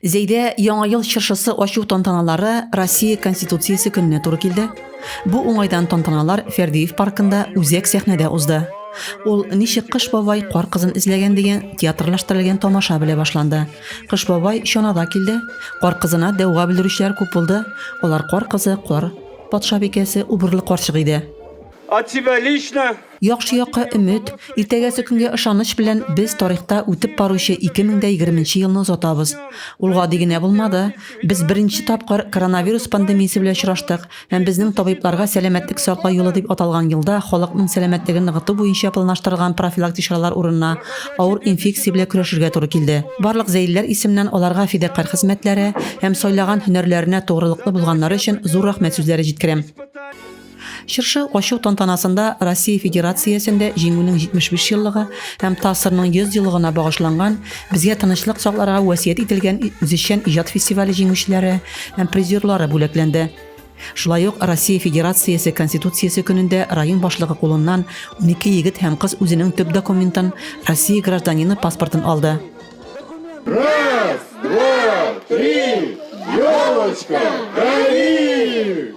Зәйдә Яңа ел чыршысы ачу тантаналары Россия Конституциясе көненә туры килде. Бу уңайдан тантаналар Фәрдиев паркында үзәк сәхнәдә узды. Ул Ничек кыш бабай кар кызын эзләгән дигән театрлаштырылган тамаша белә башланды. Кыш бабай чанада килде. Кар кызына дәүга белдерүчеләр күп булды. Алар кар кызы, кар патшабикәсе, убырлы карчык иде. От тебя лично Яхшы якка өмет, иртәгәсе көнгә ышаныч белән без тарихта үтеп баручы 2020 нче елны озатабыз. Ул гади генә булмады. Без беренче тапкыр коронавирус пандемиясе белән очраштык һәм безнең табибларга Сәламәтлек саклау елы дип аталган елда халыкның сәламәтлеген ныгыту буенча планлаштырылган профилактик чаралар урынына авыр инфекция белән көрәшергә туры килде. Барлык зәйлеләр исеменнән аларга фидакарь хезмәтләре һәм сайлаган һөнәрләренә тугрылыклы булганнары өчен зур рәхмәт сүзләре җиткерәм. Чыршы ачу тантанасында Россия Федерациясендә җиңүнең 75 еллыгы һәм ТАССРның 100 еллыгына багышланган Безгә тынычлык сакларга вәсият ителгән үзешчән иҗат фестивале җиңүчеләре һәм призерлары бүләкләнде. Шулай ук Россия Федерациясе Конституциясе көнендә район башлыгы кулыннан 12 егет һәм кыз үзенең төп документын, Россия гражданины паспортын алды. Раз, два, три, елочка, гори!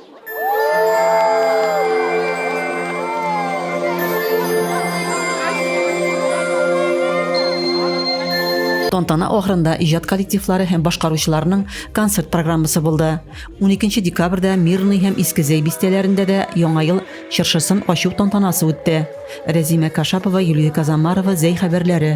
Тантана ахырында иҗат коллективлары һәм башкаручыларның концерт программасы булды. 12 декабрьдә Мирный һәм Иске Зәй бистәләрендә дә Яңа ел чыршысын ачу тантанасы үтте. Рәзимә Кашапова, Юлия Казамарова, Зәй хәбәрләре.